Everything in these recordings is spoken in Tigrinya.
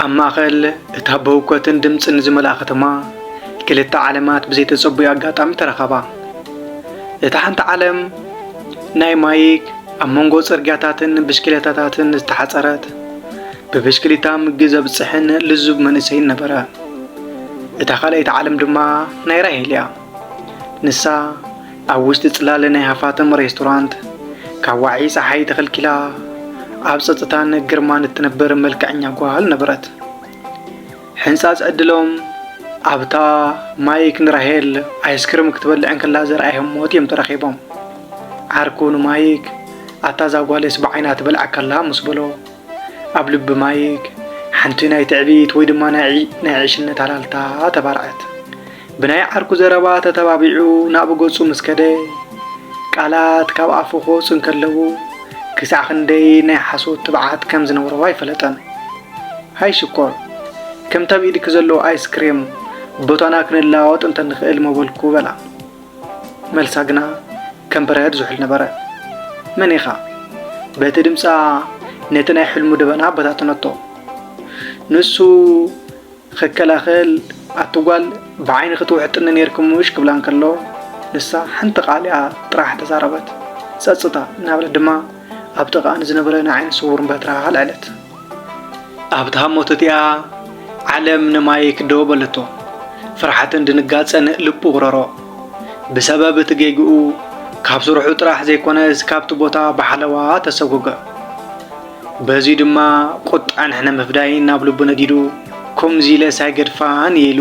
ኣብ ማእኸል እታ ብህውከትን ድምፅን ዝመልኣ ከተማ ክልተ ዓለማት ብዘይተፀቡዩ ኣጋጣሚ ተረኸባ። እታ ሓንቲ ዓለም ናይ ማይክ ኣብ መንጎ ጽርግያታትን ብሽክሌታታትን ዝተሓጸረት ብብሽክሊታ ምግቢ ዘብጽሕን ልዙብ መንእሰይን ነበረ እታ ካልኣይቲ ዓለም ድማ ናይ ራሄል እያ ንሳ ኣብ ውሽጢ ጽላለ ናይ ሃፋትም ሬስቶራንት ካብ ዋዒ ጸሓይ ተኸልኪላ ኣብ ጸጥታን ግርማን እትነበር መልክዐኛ ጓል ነበረት። ሕንጻጽ ዕድሎም ኣብታ ማይክ ንራሄል ኣይስክርም ክትበልዕ እንከላ ዘርኣዮም ሞት እዮም ተራኺቦም። ዓርኩ ንማይክ ኣታ ዛጓሌስ ብዓይና ትበልዓካላ ምስ በሎ ኣብ ልቢ ማይክ ሓንቲ ናይ ትዕቢት ወይ ድማ ናይ ዕሽነት ኣላልታ ተባርዐት። ብናይ ዓርኩ ዘረባ ተተባቢዑ ናብ ገጹ ምስ ከደ ቃላት ካብ ኣፉ ክወጹ እንከለዉ ክሳዕ ክንደይ ናይ ሓሶት ትብዓት ከም ዝነበሮ ኣይፈለጠን። ሃይ ሽኮር፣ ከምቲ ኣብ ኢድኪ ዘሎ ኣይስክሬም ቦታና ክንለዋወጥ እንተንኽእል ምበልኩ በላ። መልሳ ግና ከም በረኸት ዝሑል ነበረ። መን ኢኻ? በቲ ድምጻ ነቲ ናይ ሕልሙ ደበና በታተነቶ። ንሱ ክከላኸል ኣቲ ጓል ብዓይኒ ክትውሕጥኒ ኔርኪ ምሽ ክብላ እንከሎ ንሳ ሓንቲ ቃል እያ ጥራሕ ተዛረበት። ጸጽታ እናበለት ድማ ኣብ ጥቓኣ ንዝነበረ ናይ ዓይኒ ስዉር በትራ ኣልዐለት። ኣብታ ሃሞት እቲኣ ዓለም ንማይክ ደው በለቶ። ፍርሓትን ድንጋጸን ልቡ ውረሮ። ብሰበብ እቲ ጌግኡ ካብ ስርሑ ጥራሕ ዘይኮነስ ካብቲ ቦታ ብሓለዋ ተሰጎገ። በዚ ድማ ቁጣን ሕነ ምፍዳይን ናብ ልቡ ነዲዱ ከምዚ ኢለስ ኣይገድፋን እየ ኢሉ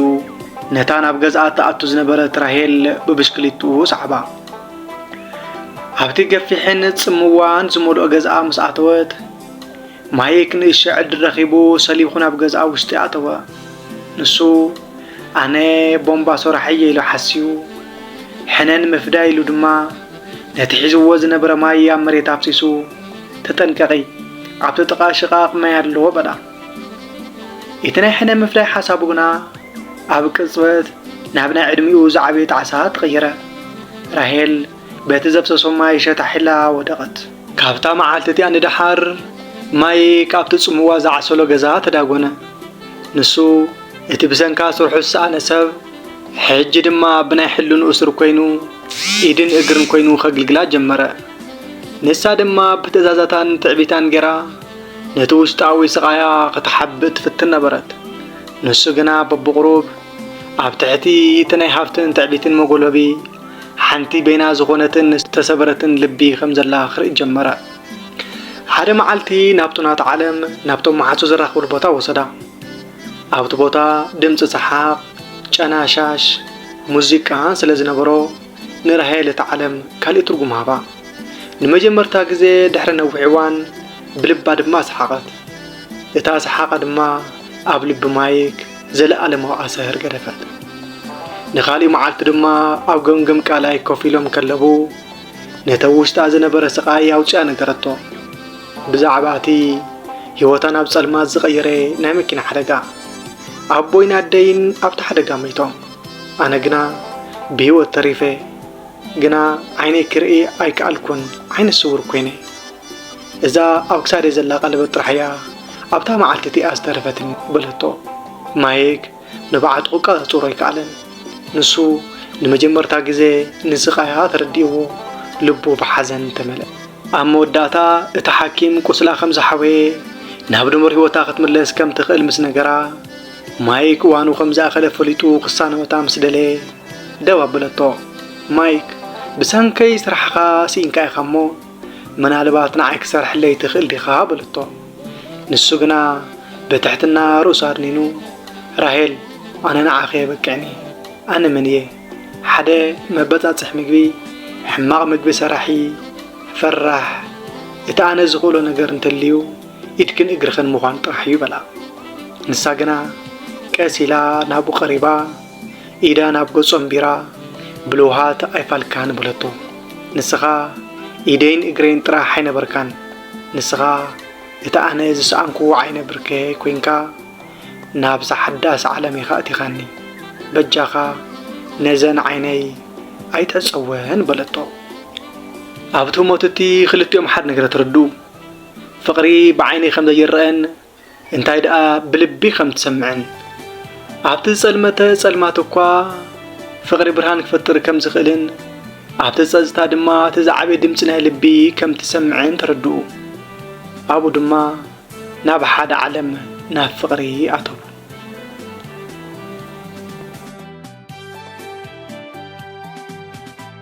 ነታ ናብ ገዝኣ እትኣቱ ዝነበረት ራሄል ብብሽክሊትኡ ሰዓባ። ኣብቲ ገፊሕን ጽምዋን ዝመልኦ ገዝኣ ምስ ኣተወት ማይክ ንእሽቶ ዕድል ረኺቡ ሰሊኹ ናብ ገዝኣ ውሽጢ ኣተወ። ንሱ ኣነ ቦምባ ሶራሕ እየ ኢሉ ሓስዩ፣ ሕነ ንምፍዳይ ኢሉ ድማ ነቲ ሒዝዎ ዝነበረ ማይ ኣብ መሬት ኣፍሲሱ ተጠንቀቒ ኣብቲ ጥቓ ሽቓቕ ማይ ኣለዎ በላ። እቲ ናይ ሕነ ምፍዳይ ሓሳቡ ግና ኣብ ቅጽበት ናብ ናይ ዕድሚኡ ዝዓበየ ጣዕሳ ተቐየረ። ራሄል በቲ ዘፍሰሶ ማይ ሸታሒላ ወደቐት። ካብታ መዓልቲ እቲኣ ንደሓር ማይ ካብቲ ጽምዋ ዝዓሰሎ ገዛ ተዳጎነ። ንሱ እቲ ብሰንካ ስርሑ ዝሰኣነ ሰብ ሕጂ ድማ ብናይ ሕልንኡ ስር ኮይኑ ኢድን እግርን ኮይኑ ከግልግላ ጀመረ። ንሳ ድማ ብትእዛዛታን ትዕቢታን ገይራ ነቲ ውሽጣዊ ስቓያ ክትሓብእ ትፍትን ነበረት። ንሱ ግና በብቑሩብ ኣብ ትሕቲ እቲ ናይ ሃብትን ትዕቢትን መጎልበቢ ሓንቲ በይና ዝኾነትን ዝተሰበረትን ልቢ ኸም ዘላ ኽርኢ ጀመረ። ሓደ መዓልቲ ናብቱ ናት ዓለም ናብቶም መሓሱ ዘራኽብሉ ቦታ ወሰዳ። ኣብቲ ቦታ ድምፂ ሰሓቕ፣ ጨናሻሽ፣ ሙዚቃ ስለ ዝነበሮ ንራሄል እቲ ዓለም ካልእ ትርጉም ሃባ። ንመጀመርታ ግዜ ድሕሪ ነዊሕ እዋን ብልባ ድማ ሰሓቐት። እታ ሰሓቓ ድማ ኣብ ልቢ ማይክ ዘለኣለማዊ ኣሳህር ገደፋት። ንኻልእ መዓልቲ ድማ ኣብ ገምገም ቃላይ ኮፍ ኢሎም ከለቡ ነቲ ኣብ ውሽጣ ዝነበረ ስቓይ ኣውፅኣ ነገረቶ ብዛዕባ እቲ ህይወታ ናብ ጸልማት ዝቐየረ ናይ መኪና ሓደጋ ኣቦይን ኣደይን ኣብቲ ሓደጋ መይቶም ኣነ ግና ብህይወት ተሪፈ ግና ዓይነይ ክርኢ ኣይከኣልኩን ዓይነ ስውር ኮይነ እዛ ኣብ ክሳደይ ዘላ ቀለበት ጥራሕ እያ ኣብታ መዓልቲ እቲኣ ዝተረፈትኒ በለቶ። ማይክ ንብዓቱ ክቀጻጸሮ ኣይከኣለን። ንሱ ንመጀመርታ ግዜ ንስቃያ ተረዲእዎ ልቡ ብሓዘን ተመልአ። ኣብ መወዳእታ እቲ ሓኪም ቁስላ ከም ዝሓወየ ናብ ድሙር ህይወታ ክትምለስ ከም ትኽእል ምስ ነገራ ማይክ እዋኑ ከም ዝኣኸለ ፈሊጡ ክሳነወታ ምስ ደለየ ደው ኣበለቶ። ማይክ ብሰንከይ ስራሕኻ ስኢንካ ኢኻ እሞ ምናልባት ንዓይ ክሰርሐለይ ትኽእል ዲኻ? በለቶ። ንሱ ግና ብትሕትና ርእሱ ኣድኒኑ፣ ራሄል ኣነ ንዓኺ የበቅዕኒ፣ ኣነ መን እየ? ሓደ መበጻጽሕ ምግቢ፣ ሕማቕ ምግቢ ሰራሒ፣ ፈራሕ፣ እቲ ኣነ ዝኽእሎ ነገር እንተልዩ ኢድክን እግርኽን ምዃን ጥራሕ እዩ በላ። ንሳ ግና ቀስ ኢላ ናብኡ ቀሪባ ኢዳ ናብ ገጹ ኣንቢራ ብልውሃት ኣይፋልካን በለቶ። ንስኻ ኢደይን እግረይን ጥራሕ ኣይነበርካን፣ ንስኻ እቲ ኣነ ዝሰኣንኩዎ ዓይነ ብርከየይ ኮይንካ ናብዛ ሓዳስ ዓለም ኢኻ ኣእቲኻኒ። በጃኻ ነዘን ዓይነይ ኣይትዕጸወን በለቶ። ኣብቲ ህሞት እቲ ክልቲኦም ሓድ ነገር ተረድኡ። ፍቕሪ ብዓይኒ ከም ዘይረኣን እንታይ ደኣ ብልቢ ከም ትሰምዕን ኣብቲ ዝጸልመተ ጸልማት እኳ ፍቕሪ ብርሃን ክፈጥር ከም ዝኽእልን ኣብቲ ጸጥታ ድማ እቲ ዝዓበየ ድምፂ ናይ ልቢ ከም ትሰምዕን ተረድኡ። ኣብኡ ድማ ናብ ሓደ ዓለም ናብ ፍቕሪ ኣተው።